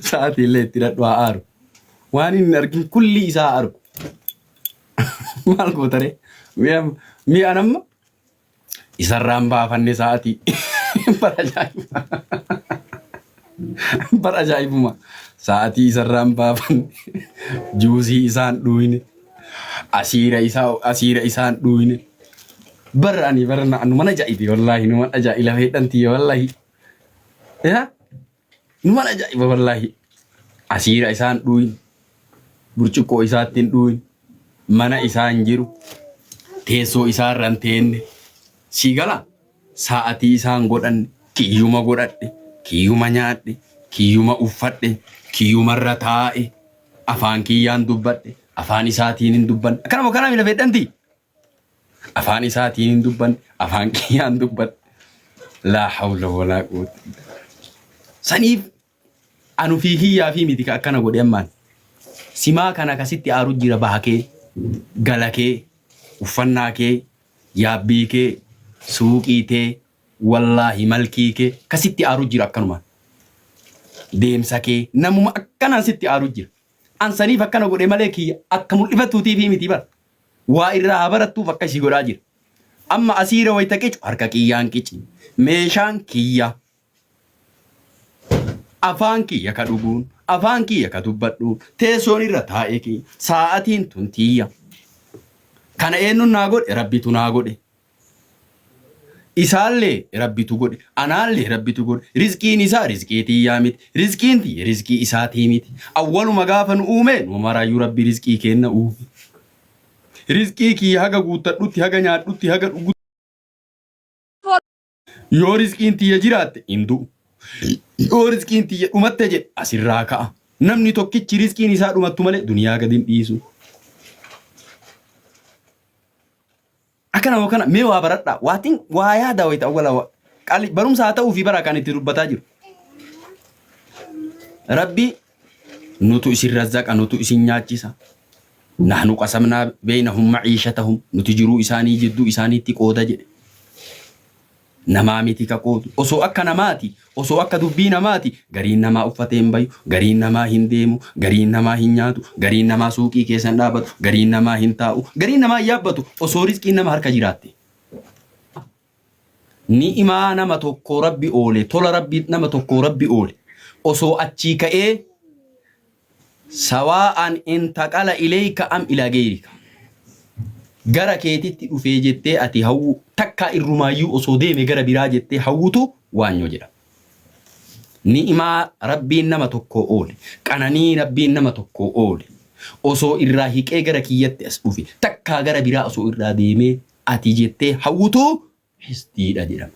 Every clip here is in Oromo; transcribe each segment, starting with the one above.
Sa'aatii illee itti hidhadhu haa aaru. Waan inni hin argin kulli isaa haa argu. Maal gootaree? Mi'a mi'a namma isarraan baafanne sa'aatii. Bara ajaa'iba. Bara ajaa'ibuma. Sa'aatii isarraan baafanne. Juusii isaan dhuuyne. Asiira isaa asiira isaan dhuuyne. Bara ani bara na- nu mana ajaa'ibe wallaahi nu mana ajaa'ibe lafa hidhantii wallaahi. Yaa numan ajaa'iba wallaahi. Asiira isaan dhuuyin, burcuqqoo isaatti hin dhuuyin, mana isaa hin jiru, teessoo isaa irra hin teenne. Sii gala sa'atii isaan godhanne, kiyyuma godhadhe, kiyyuma nyaadhe, kiyyuma uffadhe, kiyyuma irra taa'e, afaan kiyyaan dubbadhe, afaan isaatiin hin dubbanne. Akkanuma kanaa miila fedhantii? Afaan isaatiin hin dubbanne, afaan kiyyaan dubbadhe. Laa hawla walaa quwwata illa billah. Saniif an ufii kiyyaa fi miti ka akkana godhe ammaan. Simaa kana ka sitti aaru jira baha kee, gala kee, uffannaa kee, yaabbii kee, suuqii tee, wallaahi malkii kee ka sitti aaru jira akkanumaan. Deemsa kee namuma akkanaan sitti aaru jira. An saniif akkana godhe malee kiyya akka mul'ifatuutiif miti bara. Waa irraa haa barattuuf akkasii godhaa jira. Amma asiira wayta qicu harka kiyyaan qici. Meeshaan kiyya. Afaan kiyya ka dhuguun, afaan kiyya ka dubbadhu, teessoon irra taa'e kiyya, saa'atiin tun tiyya. Kana eenyuun naa godhe? Rabbitu naa godhe. Isaallee Rabbitu godhe, anaallee Rabbitu godhe, rizqiin isaa rizqii tiyyaa miti, rizqiin tiyya rizqii isaatii miti. Awwaluma gaafa nu uume numa maraayyuu Rabbi rizqii keenna uume. Rizqii kiyya haga guuttadhutti, haga nyaadhutti, haga dhugutti. Yoo rizqiin tiyya jiraatte hin du'u. Yoo rizqiin tiyya dhumatte jedhe asirraa ka'a. Namni tokkichi rizqiin isaa dhumattu malee duniyaa gadi hin dhiisu. Akkana moo kana mee waa baradhaa. Waatiin waa yaada wayita awwala waa. Qali barumsa haa ta'uu fi bara kan itti dubbataa jiru. Rabbi Nutu isin razzaqa, nutu isin nyaachisa. Nahnu qasamnaa beynahum ma'iishatahum. Nuti jiruu isaanii jidduu isaaniitti qooda jedhe. Namaa miti ka qoodu. Osoo akka namaati, osoo akka dubbii namaati, gariin namaa uffatee hin bayu, gariin namaa hin deemu, gariin namaa hin nyaatu, gariin namaa suuqii keessa hin dhaabatu, gariin namaa hin taa'u, gariin namaa hin yaabbatu, osoo rizqiin nama harka jiraatte. Ni'imaa nama tokkoo Rabbi oole, tola Rabbii nama tokkoo Rabbi oole, osoo achii ka'ee, Sawaa'an intaqala ileeyka am ilaa geeyrika. Gara keetitti dhufee jettee ati hawwuu, takkaa irrumaayyuu osoo deeme gara biraa jettee hawwutu waanyoo jedhama. Ni'imaa Rabbiin nama tokkoo oole, qananii Rabbiin nama tokkoo oole, osoo irraa hiqee gara kiyyatti as dhufe, takkaa gara biraa osoo irraa deemee ati jettee hawwutu hisdiidha jedhama.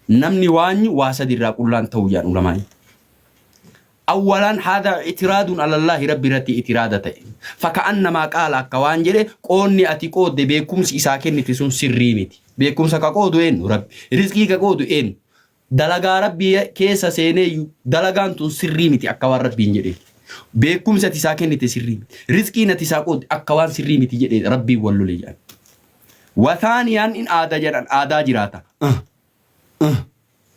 Namni waanyu waa sadi irraa qullaan tahu jedhan ulamaa'in. Awwalaan haadha itiraadun alallaahi Rabbi irratti itiraada ta'e. Faka'annamaa qaala akka waan jedhe qoonni ati qoodde beekumsi isaa kennite sun sirrii miti. Beekumsa ka qoodu eennu? Rabbi. Rizqii ka qoodu eennu? Dalagaa Rabbii keessa seeneeyyuu dalagaan tun sirrii miti akka waan Rabbiin jedhee. Beekkumsi ati isaa kennite sirrii miti. Rizqiin ati isaa qoodde akka waan sirrii miti jedhee Rabbiin wal lole jedhan. Wa thaaniyaan in aada jedhan aadaa jiraata. Ah, ah,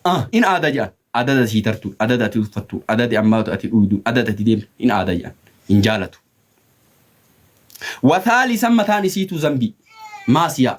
ah, in aada jedhan. Adada sii tartuun, adada ati uffattuun, adadi ammaatu ati dhuyduun, adada ati deemtu in aada jedhan. Hin jaalatu. Wa thaalisan mataan isiitu zambii. Maasiyaa.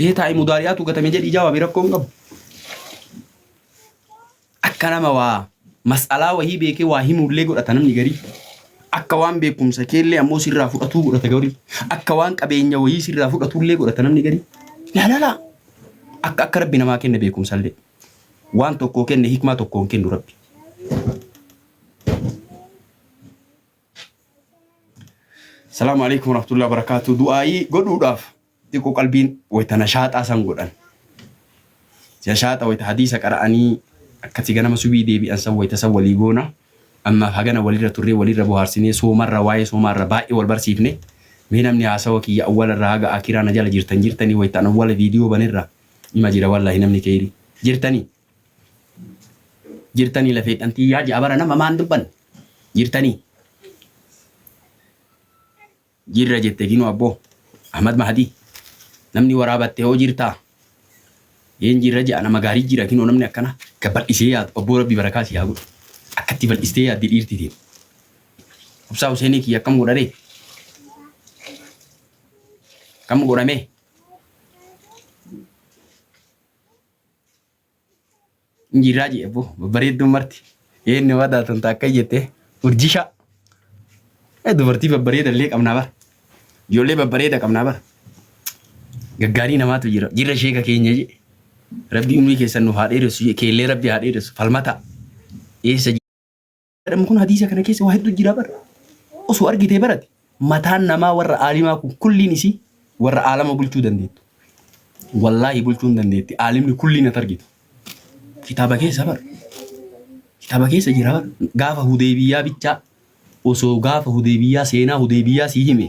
Ee taa'i mudaari'aatu gatame jedhi jawaabi rakkoo hin qabu. Akka nama waa mas'alaa wahii beekee waa himuullee godhata namni garii. Akka waan beekumsa keellee ammoo sirraa fudhatuu godhata garii. Akka waan qabeenya wahii sirraa fudhatuullee godhata namni garii. Laalala! Akka akka rabbi namaa kenne beekumsallee. Waan tokkoo kenne hikmaa tokkoon kennu rabbi. Salaamu alaikum warahmatullahi wabarakatuh. Du'aayii godhuudhaaf xiqqo qalbiin wayta nashaaxaa san godhan nashaaxa wayta hadiisa qara'anii akkati ganama subii deebi'an san wayta san walii goona ammaaf hagana walirra turree walirra bohaarsinee soomarra waa'ee soomaarra baay'ee wal barsiifne mee namni haasawa kiyya awwalarraa haga akiraa na jala jirtan jirtanii wayta an awwala viidiyoo banerra ima jira wallahi namni keeyrii jirtanii jirtanii lafeedhan tiyyaa ja'a bara nama maan dubbanne jirtanii Jirra jette Gino Abbo. Ahmad Mahadii. Namni waraabatte hoo jirtaa? Yeen jirra je'a nama gaarii jira kinoo namni akkana. Ka bal'isee yaadu abboo rabbi barakaa sii haa godhu. Akkatti bal'istee yaaddi dhiirti tee. Obsaa Huseenii kiyya akkam godha ree? Akkam godha mee? Injiirraa jee ebboo babbareedduun marti eenni wadaa tun taakka jette urjishaa Eh, dubartii babbareeda illee qabnaa bara ijoollee babbareeda qabnaa bara gaggaarii namaatu jira jirra sheeka keenya jee rabbii umrii keessan nuuf haa dheeressu jee keellee rabbii haa dheeressu falmataa eessa jedhamu kun hadiisa kana keessa waa hedduu jira bar osoo argitee barate mataan namaa warra aalimaa kun kulliin isii warra aalama bulchuu dandeettu wallaahi bulchuu hin dandeetti aalimni kulliin at argitu kitaaba keessa bar kitaaba keessa jira bar gaafa hudeebiyyaa bichaa osoo gaafa hudeebiyyaa seenaa hudeebiyyaa sii hime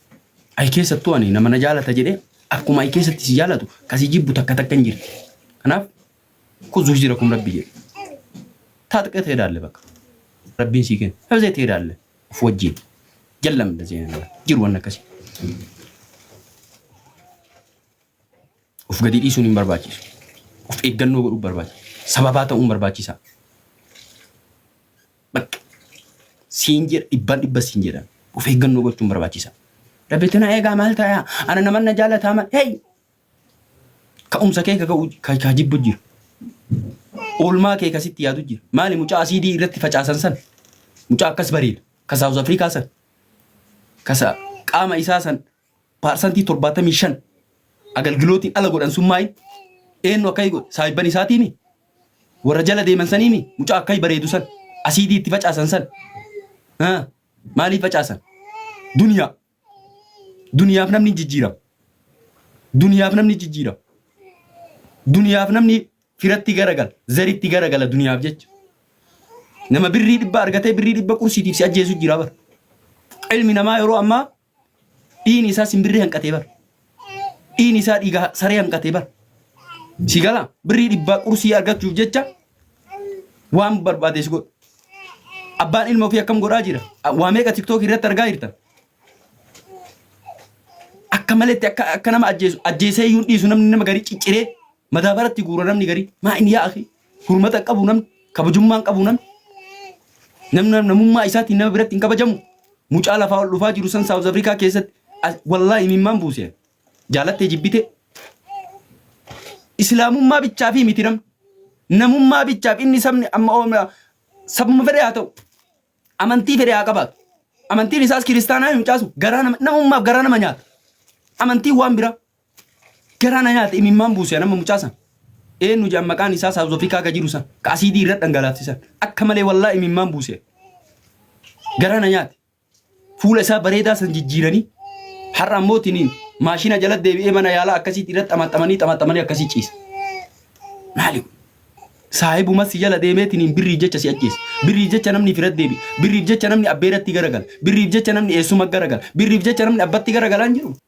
Ayi keessattuu ani nama na jaalata jedhe akkuma ayi keessatti si jaalatu kasi jibbu takka takka hin jirti. Kanaaf kuzu hijira kum rabbi jedhe. Taatqee ta'ee daalle bakka. Rabbiin sii kenna. Hafzee ta'ee daalle. Of wajjin. Jallam da zeenaa. Jiru waan akkasii. Of gadi dhiisuun hin barbaachisu. Of eeggannoo godhuu barbaachisa. Sababaa ta'uun barbaachisa. Bakka. Siin jedha dhibbaan dhibba siin jedha. Of eeggannoo gochuun barbaachisa. Rabbitu na eegaa maal ta'a? Ana naman na jaalataa maal? Hey! Ka'umsa kee ka jibbu jira. Oolmaa kee kasitti yaadu jira. Maali mucaa asiidii irratti facaasan san? Mucaa akkas bareeda. Ka Saawuz Afrikaa san. Ka qaama isaa san Paarsantii 75 agalgilootiin ala godhan sun maayi? Eennu akkai godhe? Saahibban isaatiimi? Warra jala deeman saniimi? Mucaa akkai bareedu san? Asiidii itti facaasan san? Ha? Maaliif facaasan? Duniyaa. Duniyaaf namni hin jijjiirama. Duniyaaf namni jijjiirama. Duniyaaf namni firatti garagala, zaritti garagala duniyaaf jecha. Nama birrii dhibba argatee birrii dhibba qursiitiif si ajjeesu jira bara. Ilmi namaa yeroo ammaa Dhiini isaa simbirri hanqatee bar. Dhiini isaa dhiiga saree hanqatee bar. Si gala birrii dhibbaa qursii argachuuf jecha waan barbaade si godha. Abbaan ilma ofii akkam godhaa jira? Waa meeqa tiktook irratti argaa jirta? Akka maletti akka akka nama ajjeesu ajjeesee iyyuu hin dhiisu namni nama garii cicciree madaabaratti guura namni garii maa inni yaa akhi? Hurmata hin qabu namni, kabajummaa hin qabu namni. Namni nam- namummaa isaatiin nama biratti hin kabajamu. Mucaa lafaa ol dhufaa jiru san Saawuz Afrikaa keessatti as- wallaahi imimmaan buuse. Jaalattee jibbitee. Islaamummaa bichaa fi miti namni. Namummaa bichaaf inni sabni amma oomna sabuma fedhe haa ta'u. Amantii fedhe haa qabaatu. Amantiin isaas kiristaanaa hin caasu. Garaa nama namummaaf garaa nama nyaata. Amantiin waan biraa. Garaa na nyaate imimmaan buuse anamma mucaa san. Eenyu jedhan maqaan isaa South Africa ka jiru san ka asiidii irra dhangalaafte san akka malee wallaa imimmaan buuse. Garaa na nyaate. Fuula isaa bareedaa san jijjiiranii har'a ammoo tiniin maashina jala deebi'ee mana yaalaa akkasiitti irratti xamaxamanii xamaxamanii akkasii ciisa. Maali kun? Saahibuma si jala deemee tiniin birriif jecha si ajjeese. Birriif jecha namni fira deebi. Birriif jecha namni abbeeratti garagala. Birriif jecha namni eessuma garagala. Birriif jecha namni abbatti garagalaan jiru.